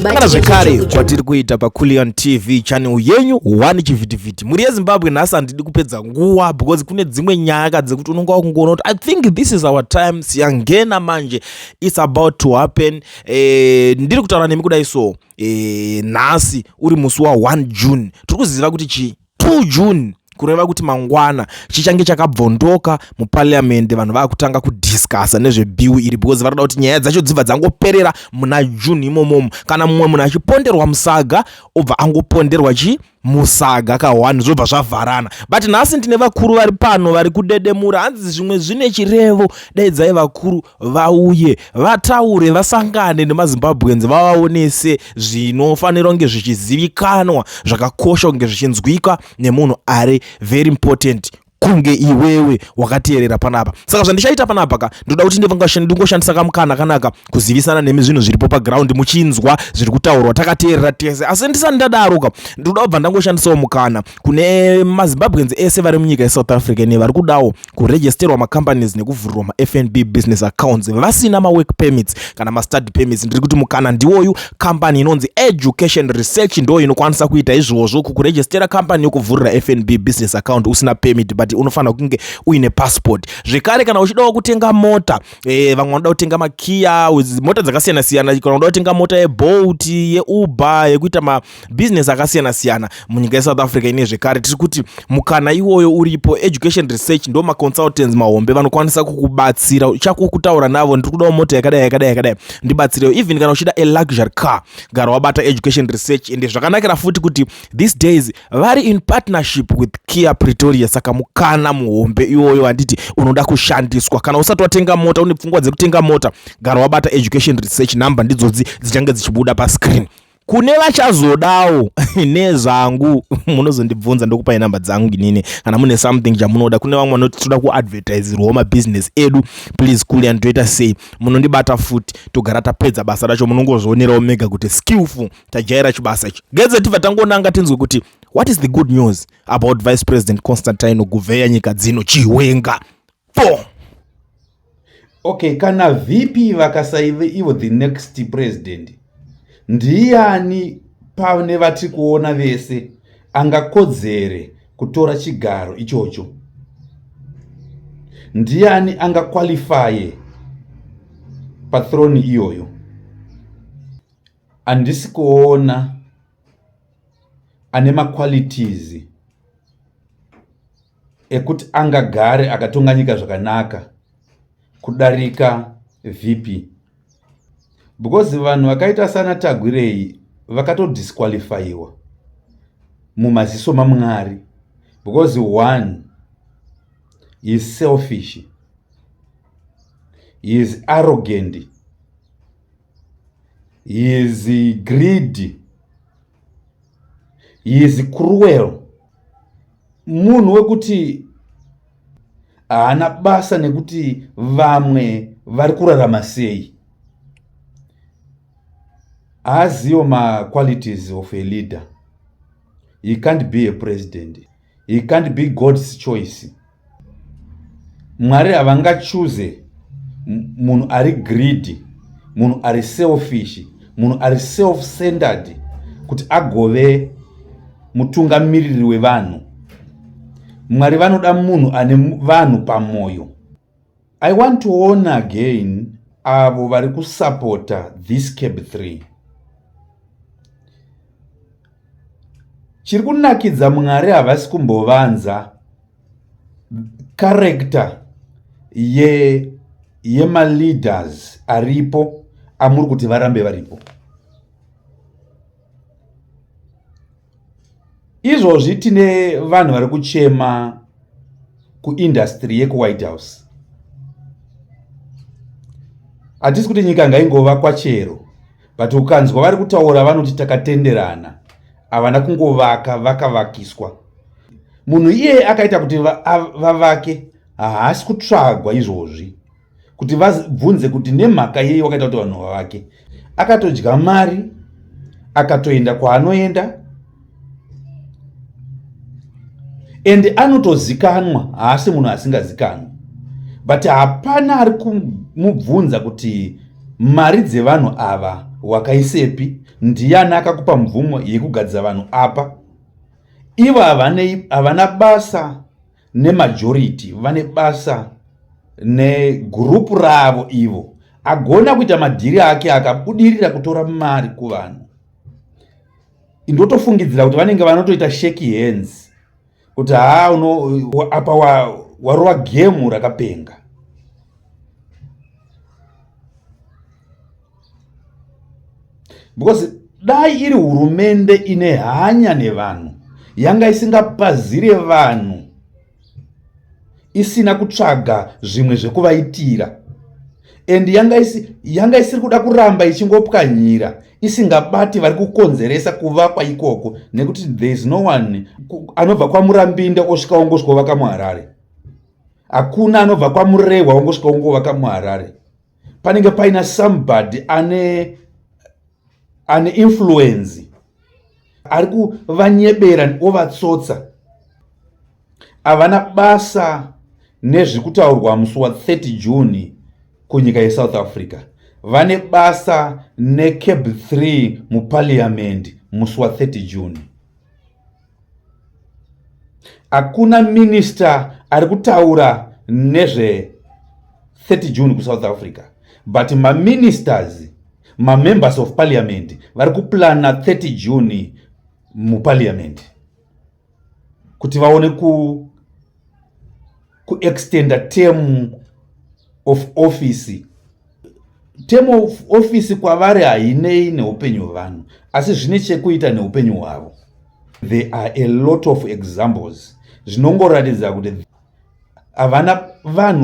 kana zvekare kwatiri kuita paculion tv channel yenyu one chivhitivhiti mhuri yezimbabwe nhasi handidi kupedza nguva because kune dzimwe nyaya ka dzekuti unonga wakungoona kuti i think this is our time siyangena manje its about to happen eh, ndiri kutaura nemi kudai so eh, nhasi uri musi wa1 june tiri kuziva kuti chii 2 June kureva kuti mangwana chichange chakabvondoka muparliamende vanhu vakutanga kudiscussa nezvebill iri because vanoda kuti nyaya dzacho dzibva dzangoperera muna june imomomo kana mumwe munhu achiponderwa musaga obva angoponderwa chi musaga kahwani zvobva zvavharana but nhasi ndine vakuru vari pano vari kudedemura hanzi zvimwe zvine chirevo daidzai vakuru vauye vataure vasangane nemazimbabweans vavaonese zvinofanira kunge zvichizivikanwa zvakakosha kunge zvichinzwika nemunhu ari very important kunge iwewe wakateerera panapa saka zvandichaita panapa ka ndoda kuti ndingoshandisa kamukana kanaka kuzivisana nemi zvinhu zviripo paground muchinzwa zviri kutaurwa takateerera tese asi ndisati ndadaro ka ndoda kubva ndangoshandisawo mukana kune mazimbabweans ese vari munyika yesouth africa ne vari kudawo kuregisterwa macompanies nekuvhurirwa mafnb business accounts vasina mawork permits kana mastudy permits ndiri kuti mukana ndiwoyu company inonzi education research ndo inokwanisa kuita izvozvo kukuregistera company yokuvhurira fnb business account usina permit but unofanira kunge uine passport zvekare kana uchidawo kutenga mota e, vamwe vanoda kutenga makiya mota dzakasiyana siyana kana unoda kutenga mota yebolt yeuber yekuita business akasiyana siyana munyika yesouth africa ine zvekare tiri kuti mukana iwoyo uripo education research ndo maconsultants mahombe vanokwanisa kukubatsira uchako kutaura navo ndiri kudawo mota yakadai yakadai yakadai ndibatsirewo even kana uchida a luxury car gara wabata education research ende zvakanakira futi kuti these days vari in partnership with kia pretoria saka mukana muhombe iwoyo handiti unoda kushandiswa kana usati watenga mota une pfungwa dzekutenga mota gara wabata education research number ndidzodzi dzichange dzichibuda pascreen kune vachazodawo nezvangu munozondibvunza ndokupai number dzangu inini kana mune something chamunoda kune vamwe vanoti toda kuadvertiserwawo mabusiness edu please kuli and toita sei munondibata futi togara tapedza basa racho munongozvionerawo mega kuti skillful tajaira chibasa ichi gedze tibva tangonanga tinzwe kuti what is the good news about vice president constantine guveya nyika dzino chiwenga po okay kana vp vakasaive ivo the next president ndiyani pane vatiri kuona vese angakodzere kutora chigaro ichocho ndiyani angakwalifaye pathroni iyoyo handisi kuona ane maqualities ekuti angagare akatonga nyika zvakanaka kudarika vp because vanhu vakaita sana tagwirei vakatodisqualifyiwa mumaziso mamwari because one he is selfish he is arrogant he is greedy he is cruel munhu wekuti haana basa nekuti vamwe vari kurarama sei haaziwo maqualities of a leader he can't be a president he can't be god's choice mwari havangachuze munhu ari greedy munhu ari selfish munhu ari self centered kuti agove mutungamiriri wevanhu mwari vanoda munhu ane vanhu pamwoyo I want to warn again avo vari kusapota this cab 3 chiri kunakidza mwari havasi kumbovanza karekta ye yemaleaders aripo amuri kuti varambe varipo izvozvi tine vanhu vari kuchema kuindastry yekuwhite house hatisi kuti nyika ngaingova kwachero but ukanzwa vari kutaura vanoti takatenderana havana kungovaka vakavakiswa munhu iyeye akaita kuti vavake haasi kutsvagwa izvozvi kuti vabvunze kuti nemhaka yei wakaita kuti vanhu vavake akatodya mari akatoenda kwaanoenda ende anotozikanwa haasi munhu asingazikanwi but hapana ari kumubvunza kuti mari dzevanhu ava wakaisepi ndiyani akakupa mvumo yekugadzira vanhu apa ivo havana basa nemajority vane basa negurupu ravo ivo agona kuita madhiri ake akabudirira kutora mari kuvanhu ndotofungidzira kuti vanenge vanotoita sheki hands kuti haa apa warova gemu rakapenga because dai iri hurumende ine hanya nevanhu yanga isingapazire vanhu isina kutsvaga zvimwe zvekuvaitira and yanga isi yanga isiri kuda kuramba ichingopwanyira isingabati vari kukonzeresa kuvakwa ikoko nekuti there is no one anobva kwamurambinda osvika wongosvika ovaka muharare hakuna anobva kwamurehwa wongosvika wongovaka muharare panenge paina somebody ane ane influence ari kuvanyebera ovatsotsa havana basa nezviri kutaurwa musi wa 30 june kunyika yesouth africa vane basa necab 3 mupariamendi musi wa 30 june Hakuna minister ari kutaura nezve 30 June kuSouth Africa but maministers mamembers of parliament vari kuplana 30 June muparliament kuti vaone ku kuextenda term of office term of office kwavari hainei neupenyu hwevanhu asi zvine chekuita neupenyu hwavo there are a lot of examples zvinongoratidza kuti havana vanhu